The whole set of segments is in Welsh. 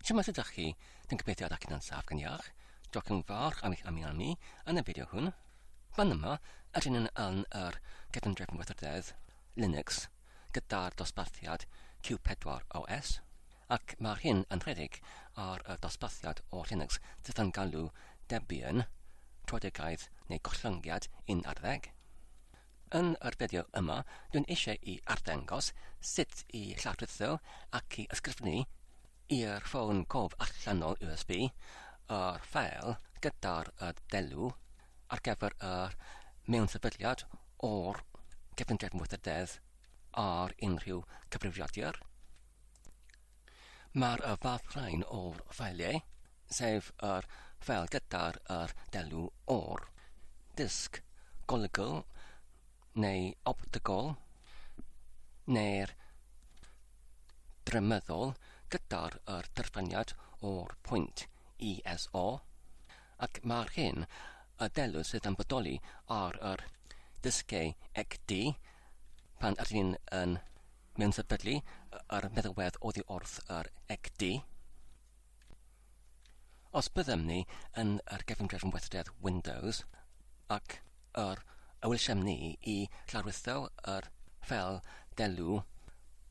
Siwmai sut ydych chi? Dwi'n gobeithio ydych chi'n saff gan iach. Diolch yn fawr am eich amyanu yn y fideo hwn. Fan yma, ydyn ni'n aln yr cydymdrefn weithrededd Linux gyda'r dosbarthiad Q4 OS, ac mae'r hyn yn rhedeg ar y dosbarthiad o Linux sydd yn galw Debian, troedegaeth neu gollyngiad 11. Yn yr fideo yma, dwi'n eisiau i arddangos sut i lawrlwytho ac i ysgrifennu i'r ffôn cof allanol USB yr ffeil gyda'r delu ar gyfer y mewnsefydliad o'r Cefngrefn Weithrededd ar unrhyw cyfrifiadur. Mae'r y fath rhain o'r ffeiliau, sef yr ffeil gyda'r yr delw o'r disg golygol neu optigol neu'r drymeddol gyda'r yr dyrffaniad o'r pwynt ISO ac mae'r hyn y delw sydd yn bodoli ar yr disgau XD pan ydyn yn Mewn sefydlu yr meddywedd oddi wrth yr ECD. Os byddem ni yn yr gefndrefn weithred Windows ac yr ewylsem ni i lawrlwytho yr fel delw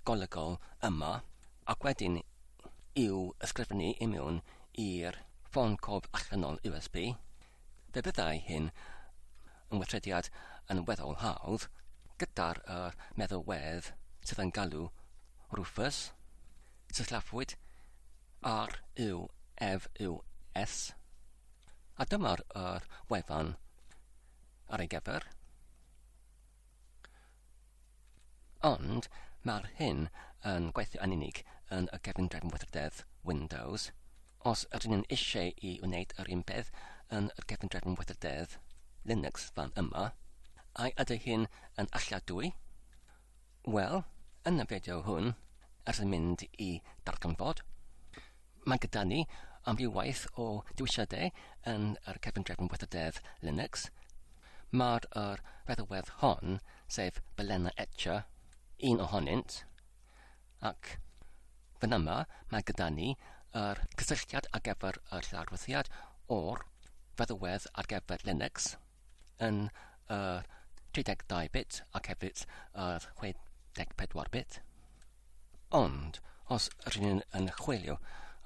golygol yma ac wedyn i'w ysgrifennu i mewn i'r ffôn cof allanol USB, fe byddai hyn ymweithrediad yn weddol hawdd gyda'r yr meddalwedd sydd yn galw Rufus, sillafuwyd RUFUS, a dyma'r yr wefan ar ei gyfer. Ond mae'r hyn yn gweithio yn unig yn y gefndir mwythrdedd Windows. Os ydyn nhw'n eisiau i wneud yr un peth yn y gefndir mwythrdedd Linux fan yma, ai ydy hyn yn alladwy? Wel, yn y fideo hwn, ers yn mynd i darganfod, Mae gyda ni amryw waith o dewisiadau yn yr Cefn Drefn Weithrededd Linux. Mae'r yr feddalwedd hon, sef Balena Etcher, un ohonynt, ac fan yma mae gyda ni yr cysylltiad ar gyfer yr lawrwyddiad o'r feddalwedd ar gyfer Linux yn yr 32 bit ac hefyd yr 64 bit. Ond os rŷn yn chwilio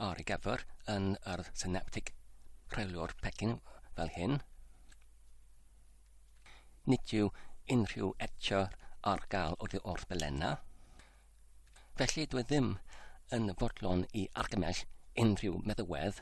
ar ei gyfer yn yr synaptig rheolwr pecyn fel hyn, nid yw unrhyw etio ar gael oddi wrth Belenna, felly dwi ddim yn fodlon i argymell unrhyw meddywedd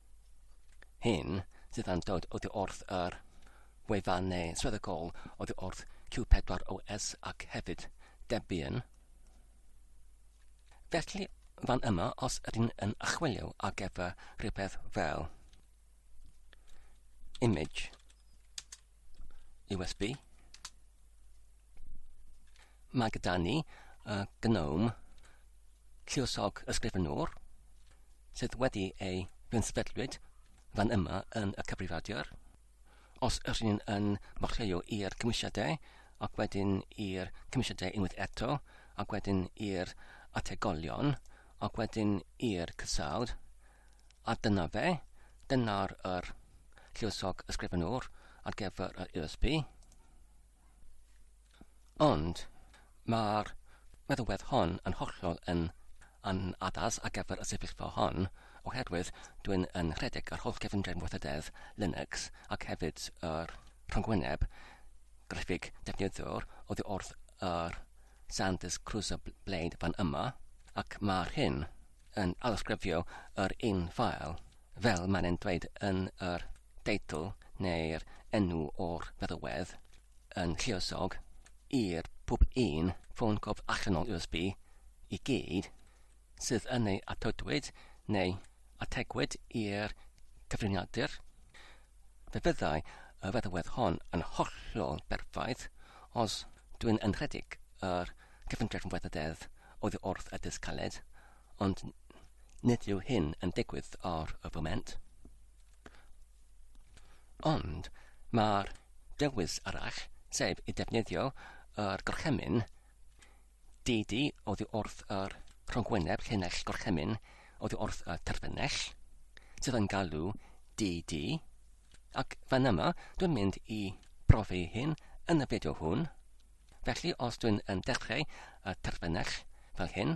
hyn sydd yn dod oddi wrth yr wefannau swyddogol oddi wrth Q4OS ac hefyd Debian. Felly, fan yma os ydyn yn achwilio ar gyfer rhywbeth fel image USB. Mae gyda ni uh, Gnome lluosog ysgrifenwr sydd wedi ei gynspedlwyd fan yma yn y cyfrifiadur. Os ydych chi'n yn morlleio i'r cymwysiadau ac wedyn i'r cymwysiadau unwaith eto ac wedyn i'r ategolion ac wedyn i'r cysawd, A dyna fe, dyna'r yr lluosog ysgrifenwr ar gyfer yr USB. Ond mae'r meddalwedd hon yn hollol yn yn addas ar gyfer y sefyllfa hon, oherwydd dwi'n yn rhedeg yr holl gefndir weithrededd Linux ac hefyd yr rhyngwyneb graffig defnyddiwr oddi wrth yr Santes Crusa Blade fan yma, ac mae'r hyn yn alysgrifio yr un ffael, fel mae'n e'n dweud yn yr deitl neu'r enw o'r feddywedd yn lluosog i'r pwb un ffôn cof allanol USB i gyd, sydd yn ei atodwyd neu ategwyd i'r cyfriniadur, fe fyddai y feddalwedd hon yn hollol berffaith os dwi'n yn rhedeg yr cyfundrefn weithrededd oddi wrth y dysg caled, ond nid yw hyn yn digwydd ar y foment. Ond mae'r dewis arall, sef i defnyddio yr gorchymyn, Didi oddi wrth yr rhonghwyneb llinell gorchymyn oddi wrth y terfynell, sydd yn galw DD, ac fan yma dwi'n mynd i brofi hyn yn y fideo hwn. Felly os dwi'n yn dechrau y terfynell fel hyn,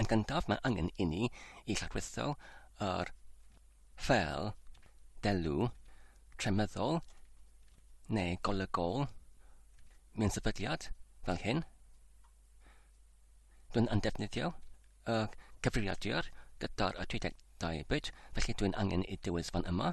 Yn gyntaf, mae angen i ni i lladwyllo yr ffeil delw tremyddol neu golygol mewn sefydliad fel hyn. Dwi'n yn defnyddio y cyfrifiadur gyda'r y 32 bit, felly dwi'n angen i dewis fan yma.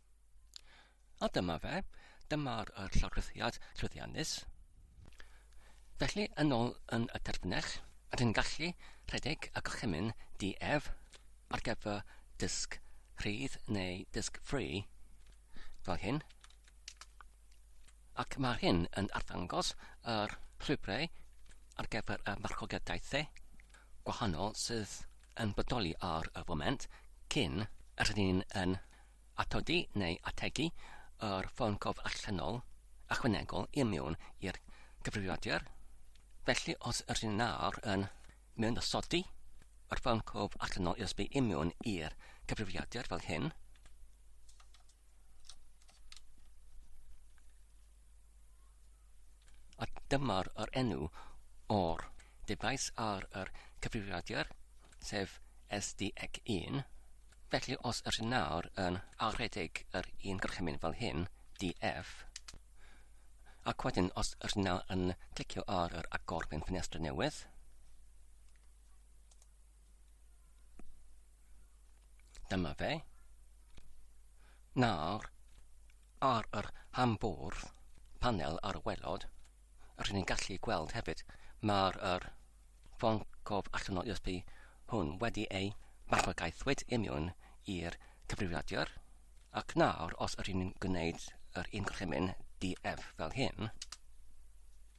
A dyma fe, dyma'r er llofruddiad llwyddiannus. Felly, yn ôl yn y terfynell, rydyn ni'n gallu rhedeg y gorchymyn DF ar gyfer dysg rhydd neu dysg free fel hyn. Ac mae hyn yn arddangos yr llwybrau ar gyfer y marchogaethau gwahanol sydd yn bodoli ar y foment cyn rydyn ni'n Atodi neu ategu yr ffôn cof allanol ychwanegol i mewn i'r cyfrifiadur, felly os rydyn nawr yn mewnosodi yr ffôn cof allanol USB i mewn i'r cyfrifiadur fel hyn, A dyma'r yr enw o'r dyfais ar yr cyfrifiadur, sef SDEC1, felly os yr hyn nawr yn aredig yr un gorchymyn fel hyn, DF, ac wedyn os yr hyn nawr yn clicio ar yr agor mewn ffenestr newydd, Dyma fe. Nawr, ar yr hambwrdd panel ar y welod, rydyn ni'n gallu gweld hefyd mae'r er ffon cof allan o USB hwn wedi ei marchwagaethwyd imiwn i'r cyfrifiadur, ac nawr os rydyn ni'n gwneud yr un gorchymyn DF fel hyn,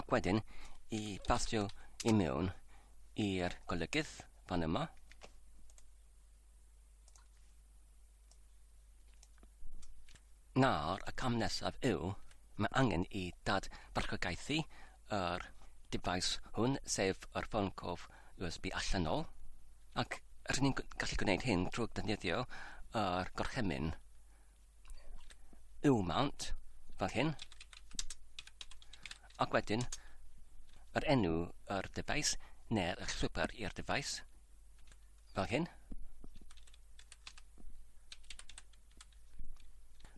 Ac wedyn, i basio i mewn i'r golygydd fan yma. Nawr, y cam nesaf yw, mae angen i dad barchogaethu yr device hwn, sef yr ffôn cof USB allanol, ac rydyn ni'n gallu gwneud hyn trwy ddefnyddio yr gorchymyn yw mount, fel hyn, ac wedyn yr enw yr dyfais neu'r llwybr i'r dyfais, fel hyn.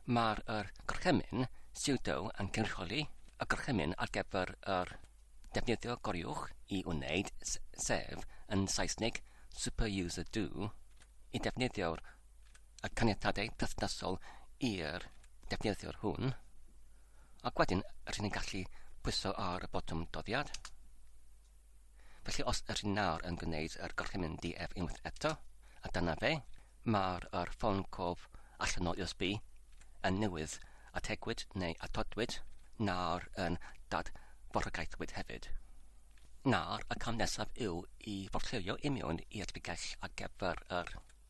Mae'r er gorchymyn pseudo yn cynrychioli y gorchymyn ar gyfer yr defnyddio goriwch i wneud sef yn Saesneg super user do i defnyddio'r y caniatadau perthnasol i'r defnyddiwr hwn, ac wedyn rydyn ni'n gallu pwyso ar y botwm doddiad. Felly os ydych chi'n nawr yn gwneud yr gorchymyn DF unwaith eto, a dyna fe, mae'r er ffôn cof allanol USB yn newydd ategwyd neu atodwyd nawr yn dadforhagaethwyd hefyd. Nawr, y cam nesaf yw i forllewio i mewn i'r bigell ar gyfer yr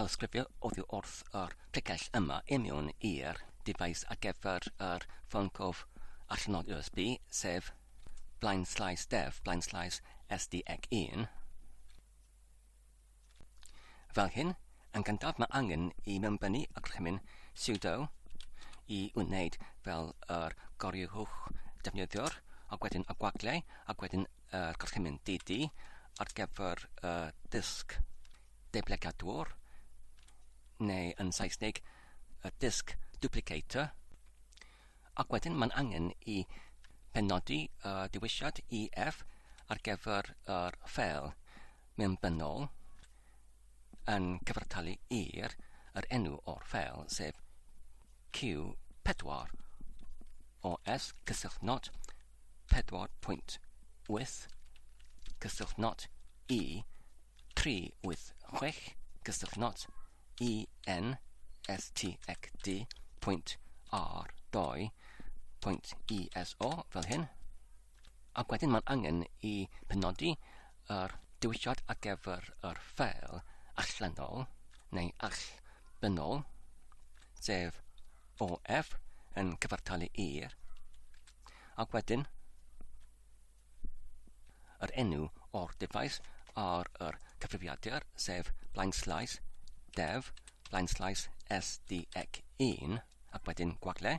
Awgrymu oddi wrth yr pregell yma i mewn i'r dyfais ar gyfer yr ffôn cof allanol USB, sef blaenslaes dev blaenslaes sdec 1. Fel hyn, yn gyntaf mae angen i mewnbynnu y gorchymyn sudo i wneud fel yr gorychwch defnyddiwr, ac wedyn y gwagliau, ac wedyn y gorchymyn DD ar gyfer y disg deblygiadwr, neu yn Saesneg, y disg duplicator, ac wedyn mae'n angen i benodi y dewisiad EF ar gyfer yr ffeil mewnbynnol yn cyfartalu i'r yr enw o'r ffeil, sef Q4 OS cysyllt not 4.8 cysyllt not i 386 cysyllt not i n s t ec d pwynt r 2 pwynt iso fel hyn Ac wedyn mae'n angen i penodi yr diwylliad ar gyfer yr ffeil allanol neu allbynnol, sef OF yn cyfartalu i'r, ac wedyn yr enw o'r dyfais ar yr cyfrifiadur, sef blaenslais def, blaenslais SDEC1, ac wedyn gwagle,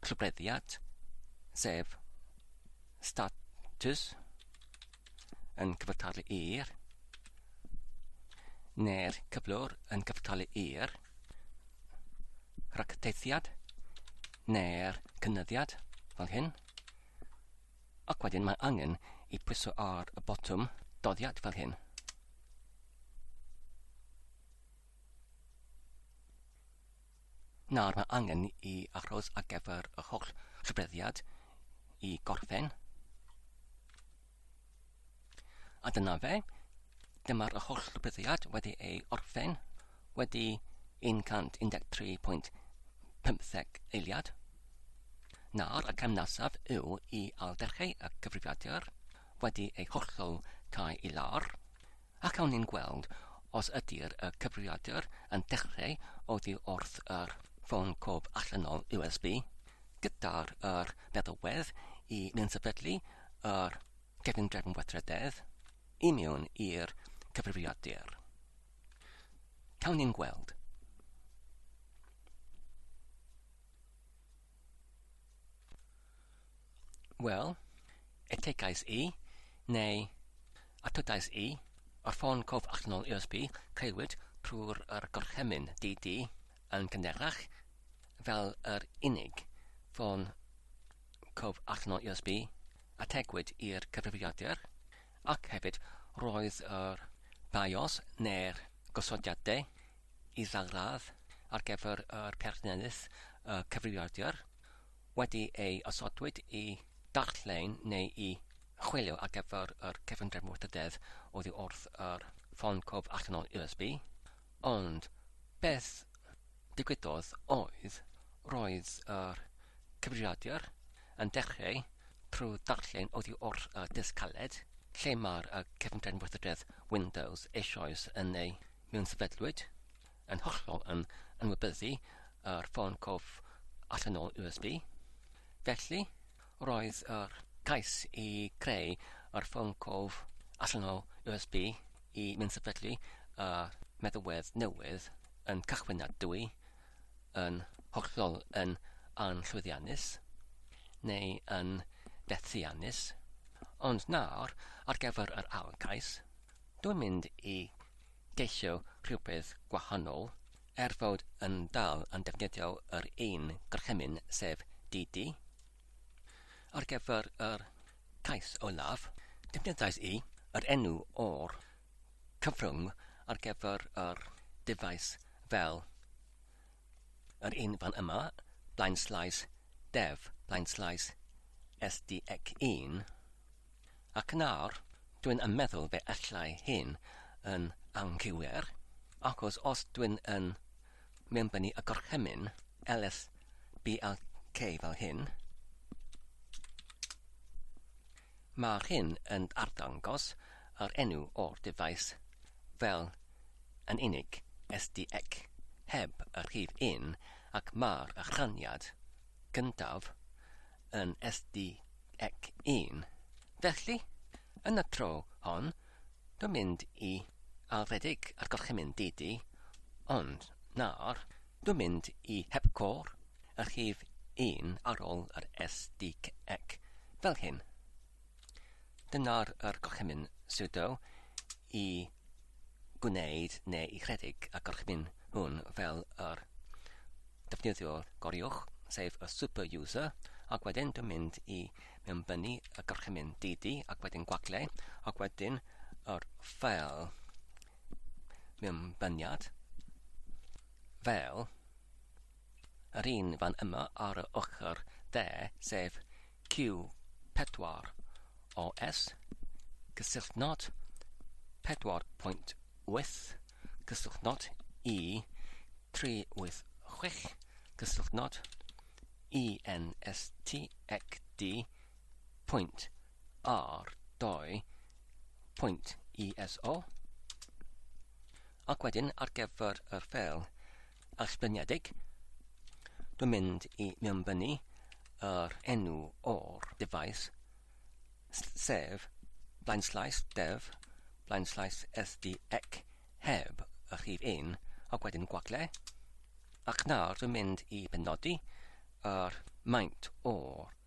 trwbleddiad, sef status yn cyfartalu i'r neu'r cyflwr yn cyfartalu i'r rhagteithiad neu'r cynyddiad fel hyn. Ac wedyn mae angen i pwyso ar y botwm doddiad fel hyn. nawr mae angen i achos ar gyfer yr holl sefydliad i gorffen. A dyna fe, dyma'r holl sefydliad wedi ei orffen, wedi 113.15 eiliad. Nawr y cam nesaf yw i alderchau y cyfrifiadur wedi ei hollol cael i lawr. ac awn ni'n gweld os ydy'r y cyfrifiadur yn dechreu oddi wrth yr ffôn cof allanol USB gyda'r yr meddalwedd i ni'n sefydlu yr cefn drefn weithrededd i mewn i'r cyfrifiadur. Cawn ni'n gweld. Wel, etegais i, neu atodais i, ar ffôn cof allanol USB, caewyd trwy'r yr gorchymyn DD yn gynharach fel yr unig ffôn cof allanol USB ategwyd i'r cyfrifiadur, ac hefyd roedd yr BIOS neu'r gosodiadau i ddal radd ar gyfer yr perthynas cyfrifiadur wedi ei osodwyd i ddarllen neu i chwilio ar gyfer yr cyfundrefn wrthdydedd oddi wrth yr ffôn cof allanol USB, ond beth ddigwyddodd oedd roedd yr cyfrifiadur yn dechreu trwy ddarllen oddi wrth y disg caled lle mae'r cyfundrefn wrthdydedd Windows eisoes yn ei mewn sefydlwyd, yn hollol yn anwybyddu yr ffôn cof allanol USB. Felly, roedd yr cais i greu yr ffôn cof allanol USB i mewn sefydlu y meddalwedd newydd yn cychwynnadwy, yn hollol yn anllwyddiannus, neu yn fethiannus. Ond nawr, ar gyfer yr ail gais, Dwi'n mynd i geisio rhywbeth gwahanol, er fod yn dal yn defnyddio yr un gorchymyn sef DD. Ar gyfer yr cais olaf, defnyddiais i yr enw o'r cyfrwng ar gyfer yr dyfais fel yr un fan yma, blaenslaes dev, blaenslaes sdec 1. Ac nawr, dwi'n yn meddwl fe allai hyn yn anghywir, achos os dwi'n yn mewnbynnu y gorchymyn ls blk fel hyn, mae'r hyn yn arddangos yr enw o'r dyfais fel yn unig, sdx, heb y rhif un, ac mae'r rhaniad gyntaf yn SDEC1, felly, yn y tro hon, dwi'n mynd i alfedig a'r gorchymyn DD, ond nawr, dwi'n mynd i hepgor y rhif 1 ar ôl yr SDEC fel hyn. Dyna'r yr gorchymyn sudo i gwneud neu i rhedeg y gorchymyn hwn fel yr defnyddiwr goriwch, sef y super user, ac wedyn dwi'n mynd i mewnbynnu y gorchymyn DD ac wedyn gwagle, ac wedyn yr ffeil mewnbyniad fel Yr un fan yma ar yr ochr dde, sef Q4, OS, cysylltnod, 4.8, cysylltnod, E386, cysylltnod, ENSTXD, pwynt R2, pwynt ESO, ac wedyn ar gyfer yr ffeil, allbyniedig. Dwi'n mynd i mewnbynnu yr enw o'r defaid, sef blaenslais def, blaenslais sdec heb y rhif 1 ac wedyn gwagle, ac nawr dwi'n mynd i benodi yr maint o'r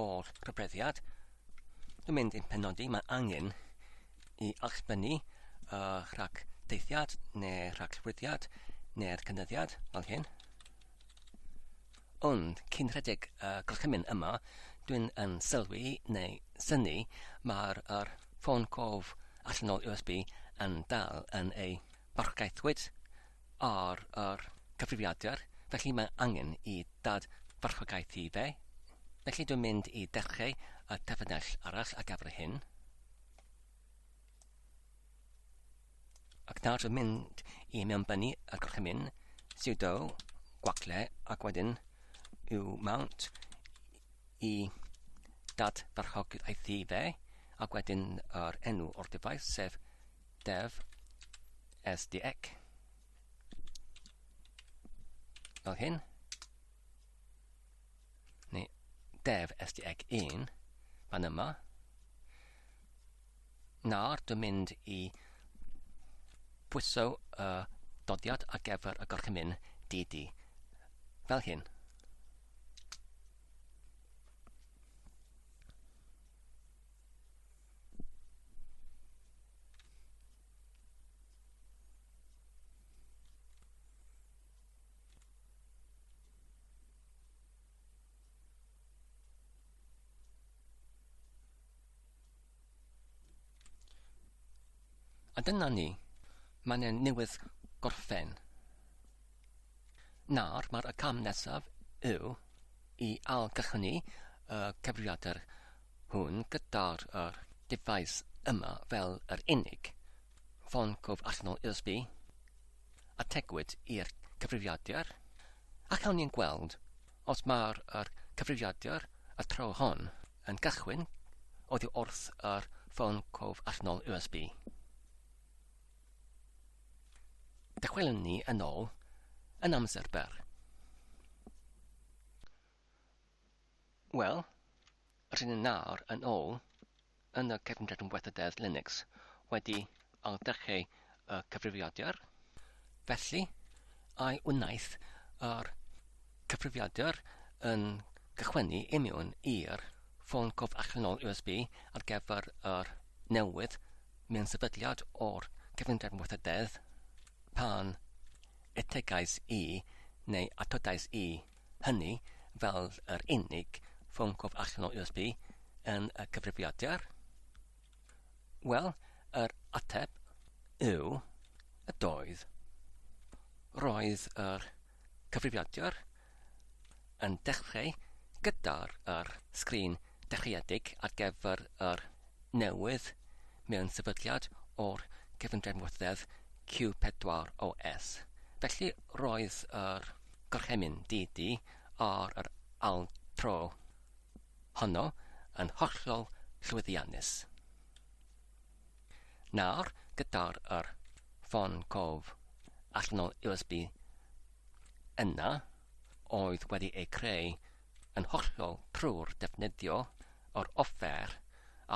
o'r rhybreddiad. Dwi'n mynd i'n penodi, mae angen i allbynnu uh, rhag deithiad neu rhag llwyddiad neu'r cynyddiad fel hyn. Ond cyn rhedeg y uh, gorchymyn yma, dwi'n yn sylwi neu syni mae'r er ffôn cof allanol USB yn dal yn ei barchgaethwyd ar yr cyfrifiadur, felly mae angen i Dad farchogaeth i fe. Felly dwi'n mynd i dechreu y terfynell arall ar gyfer hyn. Ac nawr dwi'n mynd i mewnbynnu y gorchymyn sudo gwacle ac wedyn yw mount i Dad farchogaeth i fe ac wedyn yr enw o'r defaith sef dev sdec fel hyn neu dev sdec 1 fan yma nawr dwi'n mynd i pwyso y uh, dodiad ar gyfer y gorchymyn DD fel hyn A dyna ni. Mae'n e newydd gorffen. Nawr, mae'r cam nesaf yw i algychwni y cyfrifiadur hwn gyda'r yr dyfais yma fel yr unig ffon cof allanol USB a tegwyd i'r cyfrifiadur ac awn ni'n gweld os mae'r yr cyfrifiadur y tro hon yn cychwyn oddi wrth yr ffon cof allanol USB. Dychwelwn ni yn ôl yn amser byr. Wel, rydyn ni nawr yn ôl yn y cefndir yn weithrededd Linux wedi ailddechrau y cyfrifiadur. Felly, ai wnaeth yr cyfrifiadur yn cychwynnu i mewn i'r ffôn cof allanol USB ar gyfer yr newydd mewn sefydliad o'r cefndir yn weithrededd pan etegais i neu atodais i hynny fel yr unig ffôn cof allan o USB yn y cyfrifiadur? Wel, yr ateb yw y doedd. Roedd yr cyfrifiadur yn dechrau gyda'r yr sgrin dechreuedig ar gyfer yr newydd mewn sefydliad o'r cyfundrefn wrthedd Q4OS. Felly roedd yr Gorchymyn di di ar yr altro honno yn hollol llwyddiannus. Nawr, gyda'r yr ffôn cof allanol USB yna, oedd wedi ei creu yn hollol trwy'r defnyddio o'r offer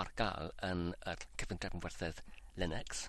ar gael yn y cyfundrefn werthoedd Linux,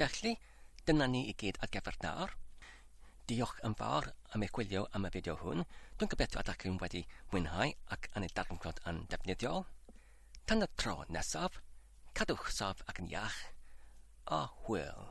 Felly, dyna ni i gyd ar gyfer nawr. Diolch yn fawr am eich gwylio am y fideo hwn. Dwi'n gobeithio ydych chi'n wedi mwynhau ac yn ei darganfod yn defnyddiol. Tan y tro nesaf, cadwch saff ac yn iach, a hwyl!